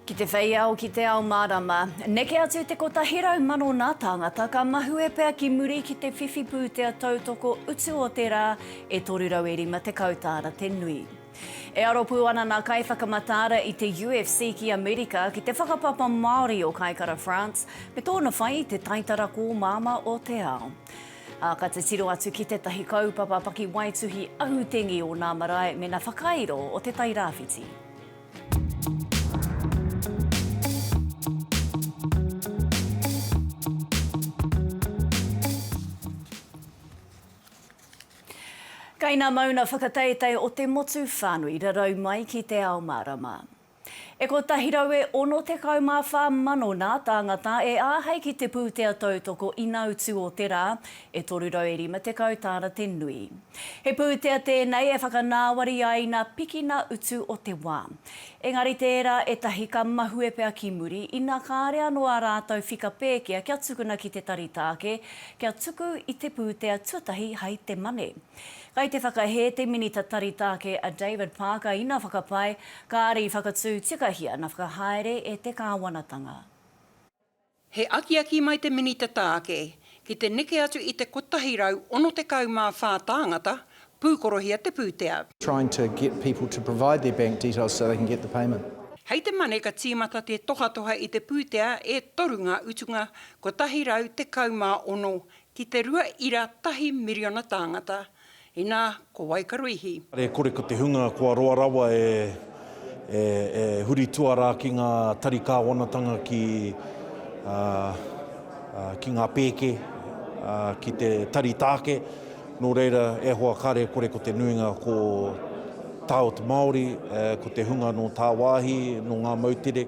Ki te whei ao, ki te ao mārama. Neke atu te kotahi rau mano nā tāngata ka mahue pea ki muri ki te whiwhi pūtea tautoko utu o te rā e 350 tāra te nui. E aro pū ana nā kaiwhakamataara i te UFC ki Amerika ki te whakapapa Māori o Kaikara France me tōna whai i te taitara kōmāma o te ao. Ā, ka titiro atu ki tētahi kaupapa pakiwaituhi ahutengi o nā marae mēnā whakairo o Te Tai Rāwhiti. Kainamauna whakateitei o te motu whānui rarau mai ki te ao mārama. E kotahi rau e ono tekau mā whā mano nā tāngata e āhei ki te pūtea tautoko ina utu o te rā, e toru rau e rima tekau tāna te nui. He pūtea tēnei e whakanāwari ai nā piki nā utu o te wā. Engari tērā ētahi ka mahue pea ki muri ina kāre anō ā rātou whika pēkea kia tukuna ki te tari tāke kia tuku i te pūtea tuatahi hai te mane. Kai te whakahē te Minita Tari Taake a David Parker ina whakapae, kāre i whakatū tikahia na whakahaere e te Kāwanatanga. He akiaki mai te Minita Taake ki te neke atu i te 164 tāngata pūkorohia te pūtea. trying to get people to provide their bank details so they can get the payment. Hei te Mane ka tīmata te tohatoha i te pūtea e toru ngā utunga 116 Ki te rua ira tahi miriona tāngata, inā, ko wai ka ruihi? Kare kore ko te hunga kua roa rawa e, e, e huri tuarā ki ngā tari kāwanatanga ki, ā, ā, ki ngā pēke, ā, ki te tari tāke. Nō reira, e hoa kare kore ko te nuinga ko tāot Māori, e, ko te hunga nō tāwāhi, nō ngā moutere.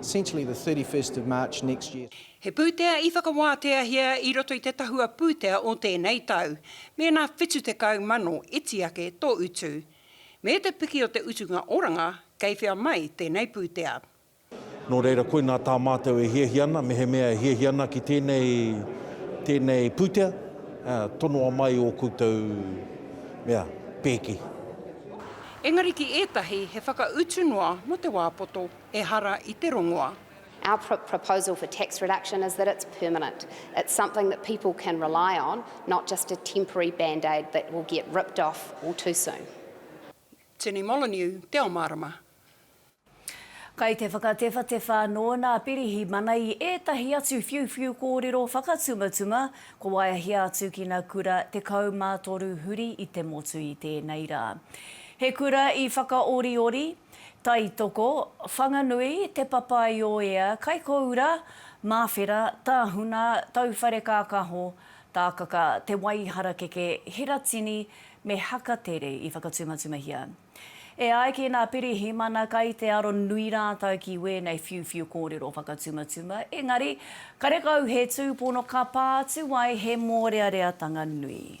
essentially the 31st of March next year. He pūtea i whakawāteahia i roto i te tahua pūtea o tēnei tau, mēnā 70 mano iti ake tō utu. Me te piki o te utunga oranga, kei whea mai tēnei pūtea. Nō reira, koinā tā mātou e hiahia ana, mehemea e hiahia ana ki tēnei, tēnei pūtea, ā, tonoa mai ō koutou mea, pēki. Engari ki ētahi he whakautu noa mō te wā poto. Ehara i te rongoa. Our proposal for tax reduction is that it's permanent. It's something that people can rely on, not just a temporary band-aid that will get ripped off all too soon. Jenny Molyneux, Te Ao Mārama. Kai te whakatewhatewha anō nā Pirihimana i ētahi atu whiuwhiu kōrero whakatumatuma kua waeahia atu ki nā kura 13 huri i te motu i tēnei rā. He kura i whakaoriori, Taitoko, Whanganui, Te Papaioea, Kaikōura, Māwhera, Tāhuna, Tauwharekākāho, Tākaka, Te Waiharakeke, Hiratini me Hakatere i whakatumatumahia. E ai ki nā Pirihimana kai te aro nui rātau ki wēnei whiuwhiu kōrero whakatumatuma, engari, karekau he tūpono ka pā atu ai he mōreareatanga nui.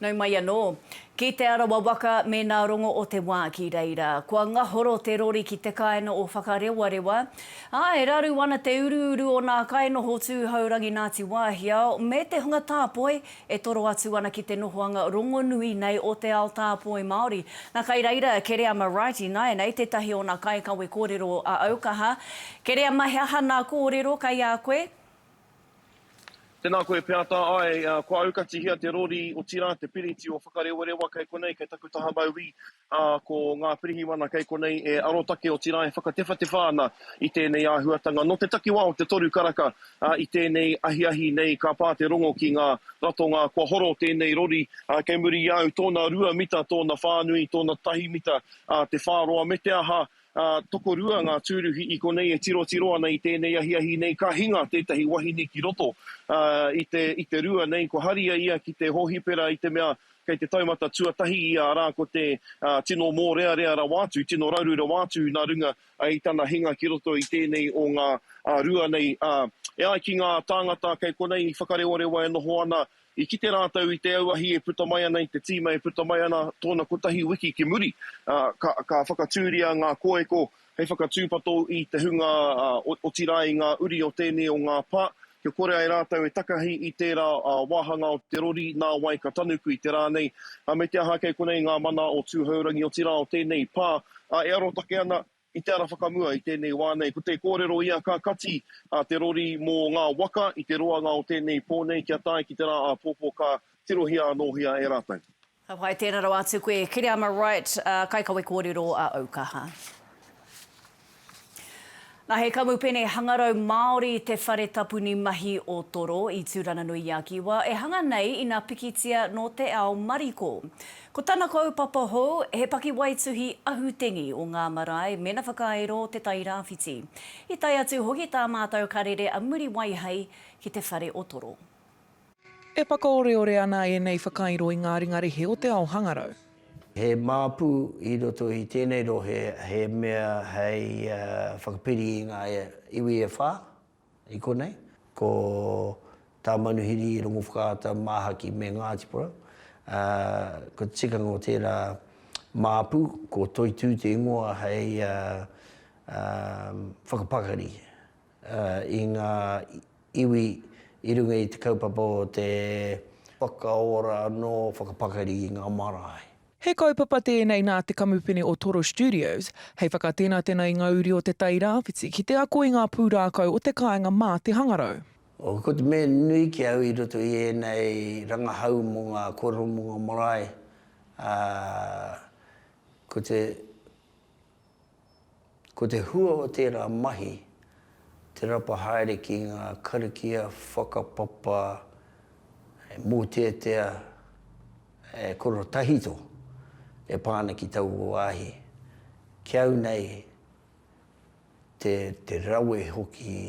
Nau mai anō. Ki Te Arawa waka mēnā rongo o te wā ki reira. Kua ngahoro te rori ki te kāinga o Whakarewarewa. Ā, e raru ana te uruuru o nā kainoho tūhourangi Ngāti Wāhiao me te hunga tāpoi e toro atu ana ki te nohoanga rongonui nei o te ao tāpoi Māori. Na kai reira Kereama Wright ināianei tētahi o nā kaikawe kōrero a Aukaha. Kereama he aha nā kōrero kai a koe? Tēnā koe Peata Ae, kua aukatihia te rori otirā te piriti o Whakarewarewa kei konei kei taku taha mauī ā ko ngā pirihimana kei konei e arotake otirā e whakatewhatewha ana i tēnei āhuatanga nō te takiwā o te toru karaka ā i tēnei ahiahi nei ka pā te rongo ki ngā ratonga kua horo tēnei rori ā kei muri i a au tōna rua mita tōna whānui tōna tahi mita ā te whāroa me te aha Ā, tokorua ngā tūruhi i konei e tirotiro ana i tēnei ahiahi nei, ka hinga tētahi wahine ki roto, ā, i te, i te rua nei, kua haria ia ki te hōhipera i te mea kei te taumata tuatahi ia, arā, ko te, ā, tino mōrearea rawa atu, tino raru rawa atu nā runga i tana hinga ki roto i tēnei o ngā, ā, rua nei, ā, e ai ki ngā tāngata kei konei i Whakarewarewa e noho ana, I kite rātou i te auahi e puta mai ana, i te tīma e puta mai ana tōna kotahi wiki ki muri, ā, ka, ka whakatūria ngā kōeko hei whakatūpato i te hunga, ā, otirā i ngā uri o tēnei o ngā pā, kia kore ai rātou e takahi i tērā, ā, wāhanga o te rori, nā wai ka tanuku i te rā nei, ā, me te aha kei konei ngā mana o Tūhourangi, otirā o tēnei pā, ā, e arotake ana, I te ara whakamua i tēnei wā nei, ko te kōrero ia ka kati a te rori mō ngā waka i te roanga o tēnei pō nei kia tae ki te rā āpōpō ka tirohia anōhia e rātou. Ka whai tēra rawa atu koe Kiriama Wright, kaikawe kōrero a Aukaha. Nā He Kamupene Hangarau Māori te whare tapuni mahi o Toro i Tūrananui-i-a-Kiwa e hanga nei ina pikitia nō te ao mariko. Ko tana kaupapa hou, he pakiwaituhi ahutengi o ngā marae mēnā whakairo te Tairāwhiti. I tae atu hoki tā mātou karere a Muriwai hei ki te whare o Toro. E whakaoreore ana ēnei whakairo i ngā ringa rehe o te ao hangarau. He māpu i roto i tēnei rohe he mea hei whakapiri i ngā iwi e whā. I konei, ko tā Manuhiri Rongowhakaata māhaki me Ngāti Porou, ā, ko te tikanga o tērā māpu, ko Toitū te ingoa hei whakapakari i ngā iwi i runga i te kaupapa o te whakaora anō whakapakari i ngā marae. He kaupapa tēnei nā te kamupene o Toro Studios hei whakatenatena i ngā uri o Te Tai Rāwhiti ki te ako i ngā pūrākau o te kāinga mā te hangarau. Ko te mea nui ki au i roto i ēnei rangahau mō ngā kōrero mō ngā marae, ā, ko te. Ko te hua o tērā mahi, te rapa haere ki ngā karakia whakapapa e mōteatea, e korotahito e pā ana ki taua wāhi. Ki au nei, te rawe hoki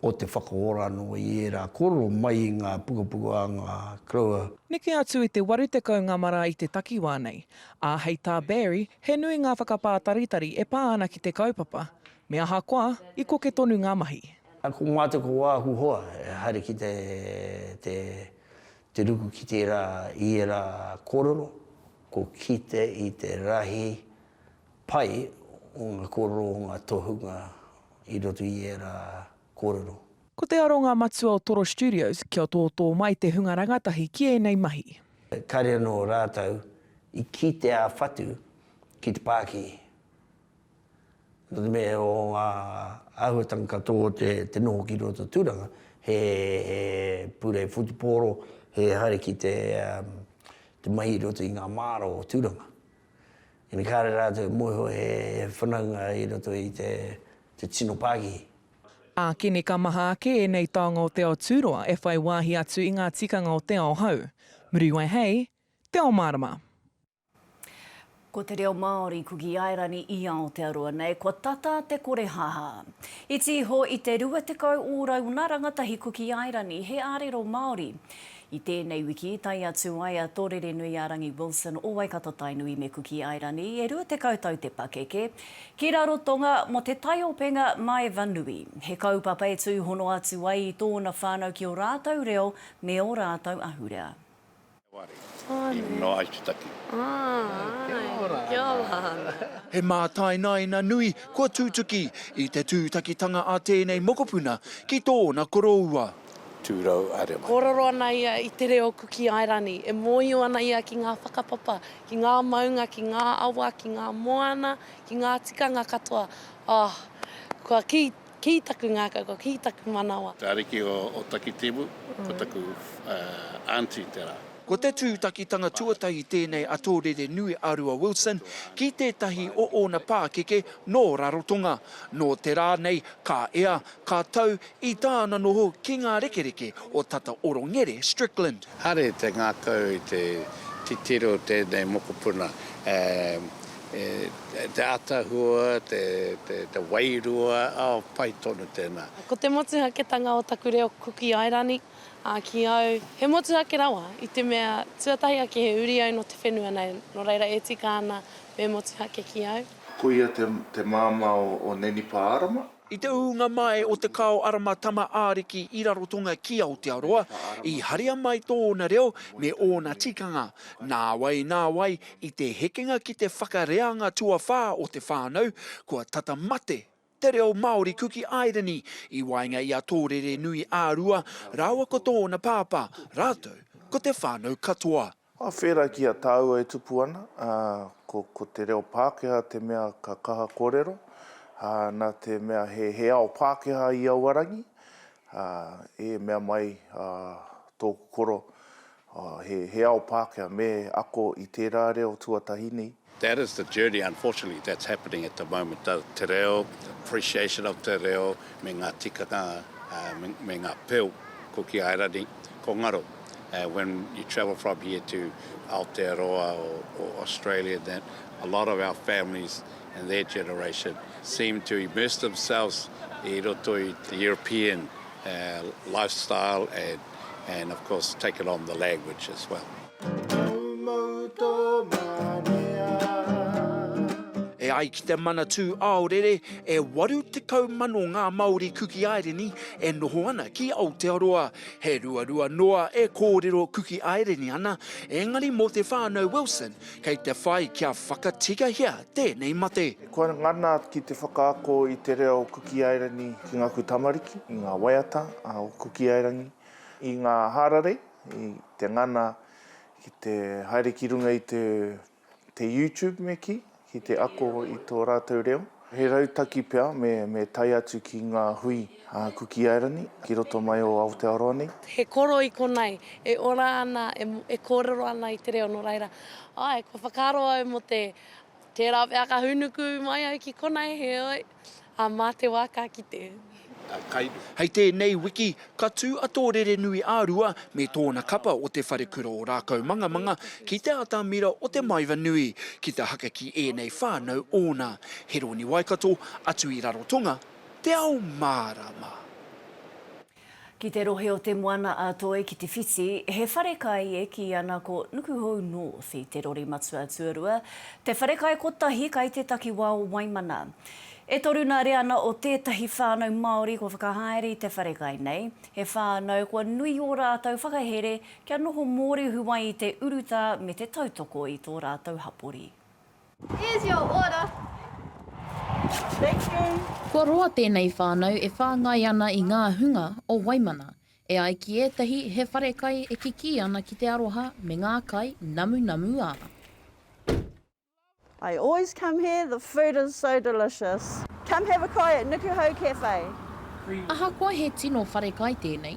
o te whakaorano i ērā kōrero mai i ngā pukapuka a ngā koroua. Neke atu i te waru tekau ngā marā i te takiwā nei, ā, hei tā Barry, he nui ngā whakapātaritari e pā ana ki te kaupapa, me ahakoa, i koke tonu ngā mahi. Ā, ko Ngāti Koāhu hoa e haere ki te ruku ki tērā i ērā kōrero, ko kite i te rahi pai o ngā kōrero o ngā tohunga i roto i ērā kōrero. Ko te aronga matua o Toro Studios kia tōtō mai te hunga rangatahi ki ēnei mahi. Kāre anō rātou i kī te ā-whatu ki te pāki. Nō te mea o ngā āhuatanga katoa o te noho ki roto tūranga, he purei whutupōro, he haere ki te mahi i roto i ngā māra o tūranga. Engari kāre rātou e mōhio he whanaunga i roto i te tino pākihi. Ākene ka maha ake ēnei taonga o te ao tūroa e whai wāhi atu i ngā tikanga o te ao hou. Muriwai hei Te Ao Mārama. Ko te reo Māori ko Giairani i Aotearoa nei, kua tata te kore haha. Iti iho i te 20 ō rauna rangatahi ko Giairani he ārero Māori. I tēnei wiki, tae atu ai a Tōrerenui-ā-rangi Wilson o Waikato-Tainui me Kuki Airani, e 20 tau te pakeke, ki Rarotonga mō te taiopenga Maeva Nui. He kaupapa e tūhono atu ai i tōna whānau ki ō rātou reo me ō rātou ahurea. He mātainaina nui kua tutuki i te tūtakitanga a tēnei mokopuna ki tōna koroua. 200. Kōrero ana ia i te reo Kuki Airani, e mōhio ana ia ki ngā whakapapa, ki ngā maunga, ki ngā awa, ki ngā moana, ki ngā tikanga katoa, oh, kua kī, kī taku ngākau, kua kī taku manawa. Te ariki o Otakitimu, ko taku aunty tērā. Ko te tūtakitanga tuatahi tēnei a Tōrere Nui a Rua Wilson ki tētahi o ōna pākeke nō Rarotonga. Nō te rā nei, ka ea, Ka tau i tāna noho ki ngā rekereke o tata orongere Strickland. Hare te ngakau i te titiro o tēnei mokopuna, te atahua, te wairua, oh pai tonu tēnā. Ko te motuhaketanga o taku reo Kuki Airani, ā, ki au, he motuhake rawa, i te mea, tuatahi ake he uri au nō te whenua nei, nō reira e tika ana me motuhake ki au. Koia te māmā o Nenipa Arama. I te ūnga mai o Te Kao Arama Tama Ariki i Rarotonga ki Aotearoa, i haria mai tōna reo me ōna tikanga. Nāwai, nāwai, i te hekenga ki te whakareanga tuawhā o te whānau, kua tata mate te reo Māori Kuki Airani i waenga i a Tōrere nui ā-Rua rāua ko tōna pāpā, rātou ko te whānau katoa. Ka whera ki a tāua e tupu ana, ā, ko, ko te reo Pākehā te mea ka kaha kōrero, ā, nā te mea he, he ao Pākehā i aua rangi, ā, e mea mai, ā, tōku koro, ā, he, he ao Pākehā, me ako i tērā reo tuatahi nei, That is the journey unfortunately that's happening at the moment, the te reo, the appreciation of te reo me nga tikanga me nga peu ko Kiairani ko ngaro when you travel from here to Aotearoa or Australia and that a lot of our families and their generation seem to immerse themselves i roto i te European lifestyle and of course taken on the language as well. Moumou tō manea. E ai ki te Manatū Aorere, e 80 mano ngā Māori Kuki Aireni e noho ana ki Aotearoa. He ruarua noa e kōrero Kuki Aireni ana, engari mō te whānau Wilson, kei te whai kia whakatikahia tēnei mate. Kua ngana ki te whakaako i te reo Kuki Aireni ki ngāku tamariki, i ngā waiata o Kuki Aireni, i ngā hararei i te ngana ki te haere ki runga i te YouTube me kī, ki te ako i tō rātou reo. He rautaki pea me tae atu ki ngā hui a Kuki Airani ki roto mai o Aotearoa nei. He koro i konei, e ora ana, e kōrero ana i te reo, nō reira, āe, kua whakaaro au mō te, tērā pea ka hūnuku mai au ki konei, heoi. ā, mā te wā ka kite. Hei tēnei wiki, ka tū a tō rerenui a Rua me tōna kapa o Te Wharekura o Rākaumangamanga ki te atamira o Te Maeva Nui ki te haka ki ēnei whānau ōna, Heroni Waikato, atu i Rarotonga, Te Ao Mārama. Ki te rohe o Te Moana-a-Toi ki Te Whiti, he wharekai e kī ana ko Nukuhou North i te rori matua tuarua, te wharekai kotahi kai te takiwā o Waimana. E toru nā Reana o tētahi whānau Māori kua whakahaere i te wharekai nei, he whānau kua nui ō rātou whakahere kia noho mōrehu ai i te urutā me te tautoko i tō rātou hapori. Here's your order. Thank you. Kua roa tēnei whānau e whāngai ana i ngā hunga o Waimana, e ai ki ētahi he wharekai e kikī ana ki te aroha me ngā kai namunamu ā. I always come here, the food is so delicious. Come have a kai at Nukuhau Cafe. Ahakoa he tino wharekai tēnei,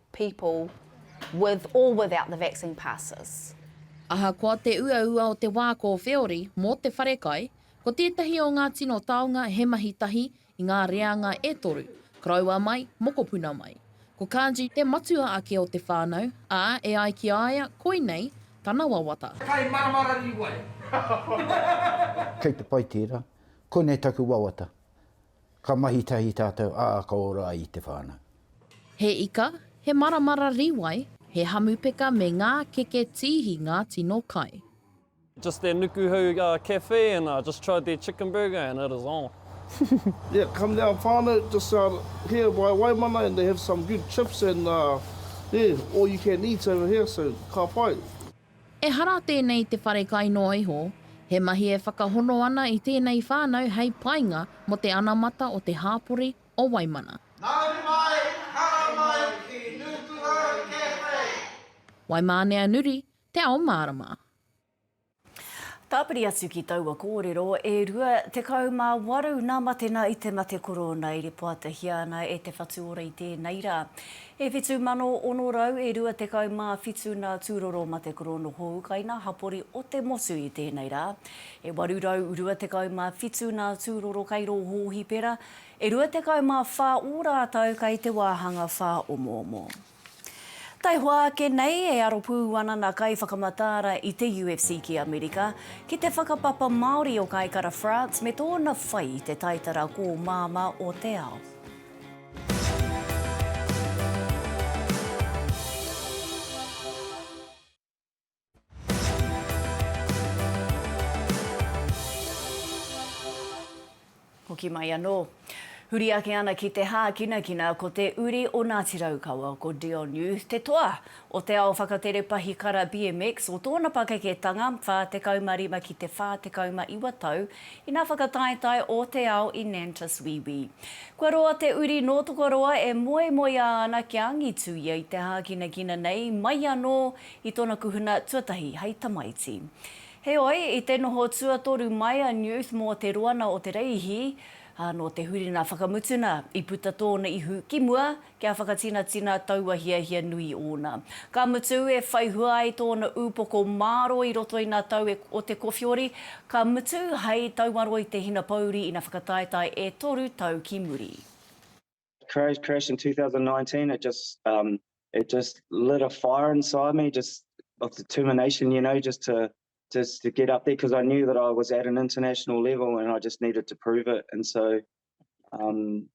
people with or without the vaccine passes. Ahakoa te uaua o te wā kōwheori mō te wharekai, ko tētahi o ngā tino taonga he mahi tahi i ngā reanga e toru, koroua mai, mokopuna mai. Ko Kanji te matua ake o te whānau, ā, e ai ki a ia, koinei tana wawata. Kai maramara riwai. Kei te pai tērā. Koinei taku wawata. Ka mahi tahi tātou, ā, ka ora ai i te whānau. He ika, he maramara rīwai, he hamupeka me ngā keke tīhi ngā tino kai. Just their Nukuhou cafe and I just tried their chicken burger and it is on. Yeah come down whanau just out here by Waimana and they have some good chips and yeah all you can eat over here so ka pai. Ehara tēnei te wharekai noa iho, he mahi e whakahono ana i tēnei whānau hei painga mō te anamata o te hāpori o Waimana. Mauri mai, hara mai ki Nukuhau Cafe! Waimānea Nuri, te ao mārama. Tāpiri atu ki taua kōrero, e rua tekau mā waru nā Matena i te mate korōna e ripoatahia ana e Te Whatuora i tēnei rā. E whitu mano ono rau e rua tekau mā whitu nā Tūroro Matekorono Hōukaina hapori o te motu i tēnei rā, e waru rau rua tekau mā whitu nā Tūroro Kairō Hōhipera, e rua tekau mā whā ō rātau kai te wāhanga whāomoomo. Taihoa ake nei, e aro pū ana nā kaiwhakamataara i te UFC ki Amerika, ki te whakapapa Māori o Kaikara France me tōna whai i te taitara kōmāmā o te ao. Hoki mai anō. Huri ake ana ki te hākinakina ko te uri o Ngāti Raukawa, ko Dionu te toa o te ao whakatere pahikara BMX o tōna pakeketanga 45 ki te 49 tau ina whakataetae ō te ao i Nantus Wīwī. Kua roa te uri nō Tokoroa e moemoeā ana kia angitu ia i te hākinakina nei mai anō i tōna kuhuna tuatahi hei tamaiti. Heoi, i te noho tuatoru mai a Newth mō te roana o Te Reihi, nō te huringa whakamutuna i puta tōna ihu ki mua, kia whakatinatina taua hiahia nui ōna. Ka mutu, e whai hua ai tōna ūpoko mārō i roto i ngā tau e o te kowhiori, ka mutu, hei tauaro i te hinapouri ina whakataetae e toru tau ki muri. Crash crash in 2019 it just um it just lit a fire inside me just of determination you know just to just to get up there because I knew that I was at an international level and I just needed to prove it and so um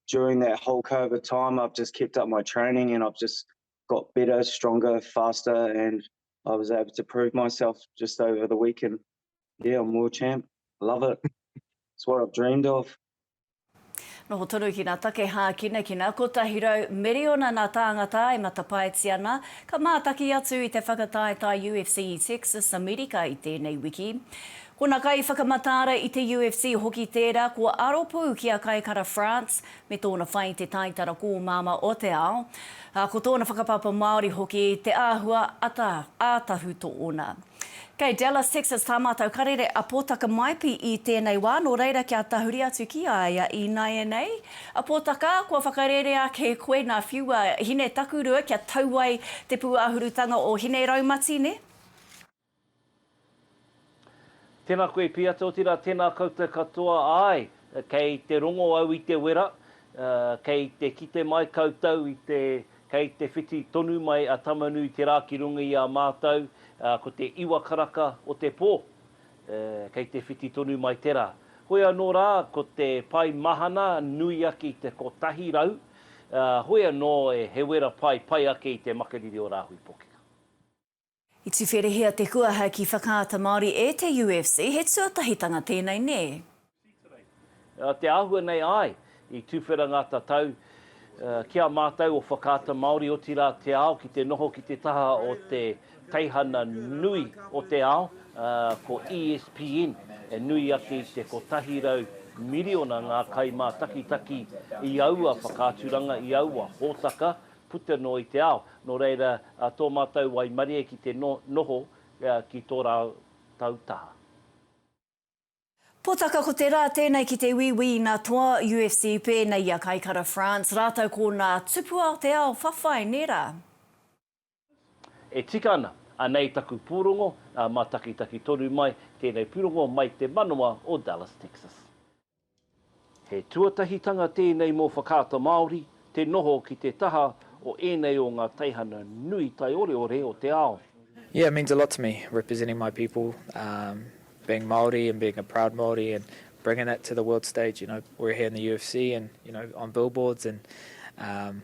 during that whole COVID time, I've just kept up my training and I've just got better, stronger, faster, and I was able to prove myself just over the weekend. Yeah, I'm world champ. Love it. it's what I've dreamed of. Noho tonu ki nā take hākina ki nā kotahi rau miriona nā tāngata e matapaetia ana, ka mātaki atu i te whakataetae UFC i Texas, Amerika i tēnei wiki. Ko na kaiwhakamataara i te UFC hoki tera kua aro pu ki a Kai Kara France me tona whai te taitara komama o te ao, a ko tona whakapapa Maori hoki te ahua ata a Tahu to ona. Kei Dallas Texas ta matou karere a Potaka Maipi i tenei wa no reira kia tahuri atu ki a ia i naianei. A Potaka, kua whakarere ake koe na whiua hine takurua kia tau ai te puahurutanga o Hineraumati ne? Tena koe Piata otira tena koutou katoa ae kei te rongo au i te wera kei te kite mai koutou i te kei te whiti tonu mai a Tamanui te ra ki runga i a matou ko te iwa karaka o te po kei te whiti tonu mai te ra hoi ano ra ko te pai mahana nui ake i te kotahi rau hoi ano he wera pai pai ake i te makariri o Rahui Pokeka. I tuwherehia te kuaha ki Whakaata Māori e te UFC, he tuatahitanga tēnei nē? Nā te āhua nei, āe, i tuwhera ngā tatau ki a mātou o Whakaata Māori, otirā te ao ki te noho ki te taha o te teihana nui o te ao, ko ESPN, e nui ake i te kotahi rau miriona ngā kaimātakitaki i aua whakaaturanga, i aua hōtaka, puta noa i te ao, nō reira tō mātou waimarie ki te noho ki tō rātou taha. Potaka ko te rā tēnei ki te Wīwī i nā toa UFC pēnei i a Kaikara France rātou ko nā tupua o te ao whawhai nē rā. E tika ana, anei taku pūrongo, mātakitaki tonu mai tēnei pūrongo mai te manawa o Dallas Texas. He tuatahitanga tēnei mō Whakaata Māori te noho ki te taha o ēnei o ngā teihana nui taioreore o te ao. Yeah it means a lot to me representing my people um being Māori and being a proud Māori and bringing that to the world stage you know we're here in the UFC and you know on billboards and um.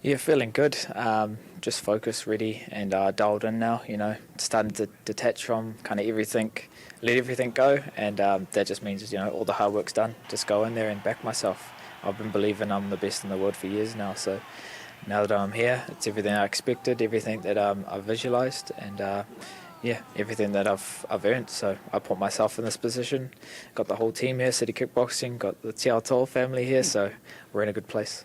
Yeah feeling good um just focused ready and uh dialed in now you know starting to detach from kind of everything let everything go and um that just means you know all the hard work's done just go in there and back myself I've been believing I'm the best in the world for years now so now that I'm here it's everything I expected everything that um I've visualized and uh yeah everything that I've I've earned so I put myself in this position got the whole team here City Kickboxing got the Te Ao Toa family here so we're in a good place.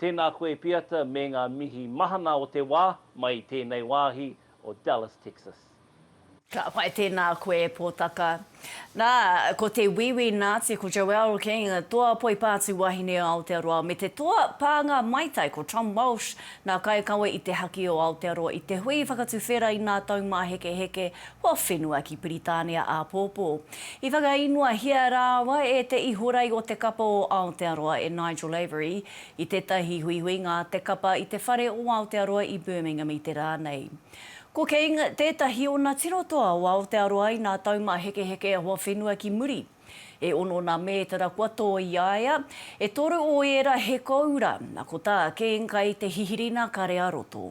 Tēnā koe Piata me ngā mihi mahana o te wā mai i tēnei wāhi o Dallas Texas. Ka pai tēnā koe e Pōtaka. Nā, ko te Wīwī Nāti ko Joelle King, toa poipāti wahine o Aotearoa, me te toa pānga maitai ko Tom Walsh, ngā kaikawe i te haki o Aotearoa i te hui whakatuwhera i ngā taumāhekeheke Kua whenua ki Piritānia āpōpō. I whakaīngoahia rāua e te Ihorei o te Kapa o Aotearoa e Nigel Avery i tētahi huihuinga a te kapa i te Whare o Aotearoa i Birmingham i te rā nei. Ko King tētahi ona tino toa o Aotearoa inā taumāhekeheke hoa whenua ki muri. E ono nā mētara kua tō i a ia, e toru o ērā he kōura, na ko tā King kai te hihiri nā kare a roto.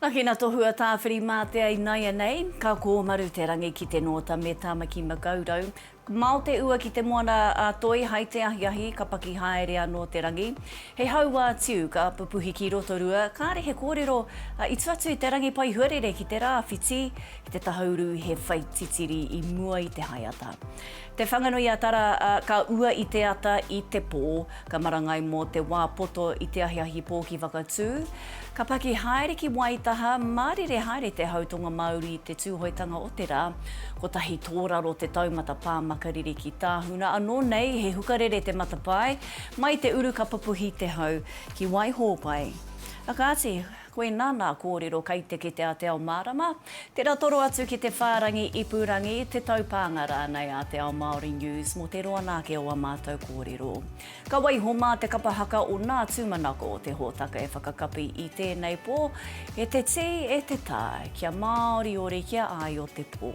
Naki na Tohua Tawhiri-Matea inaianei, ka koomaru te rangi ki te noota me Tamaki Makaurau. Mao te ua ki te moana a Toi hai te ahiahi ka paki haere ano te rangi. He hauwa tiu ka pupuhi ki Rotorua, kaare he koorero i tu atu i te rangi pai huarere ki te raawhiti, ki te tahauru he whai titiri i mua i te haeata. Te Whanganui-a-Tara, ā, ka ua i te ata i te pō. Ka marangai mō te wā poto i te ahiahi pō ki Whakatū. Ka paki haere ki Waitaha, mārire haere te hau tonga-māuru i te Tūhoetanga o te rā. Kotahi tōraro te taumata pā makariri ki Tāhuna. Anō nei, he hukarere te matapae. Mai te uru ka pupuhi te hau ki Waihōpai. Kāti. Koinā nā kōrero kai te kete a Te Ao Mārama, tērā toro atu ki te whārangi ipurangi, te taupānga rānei a Te Ao Māori News mō te roa nā ake o ā mātou kōrero. Ka waiho mā te kapa haka o nā tūmanako o te hōtaka e whakakapi i tēnei pō, e te tī, e te tā, kia māoriori, kia āio te pō.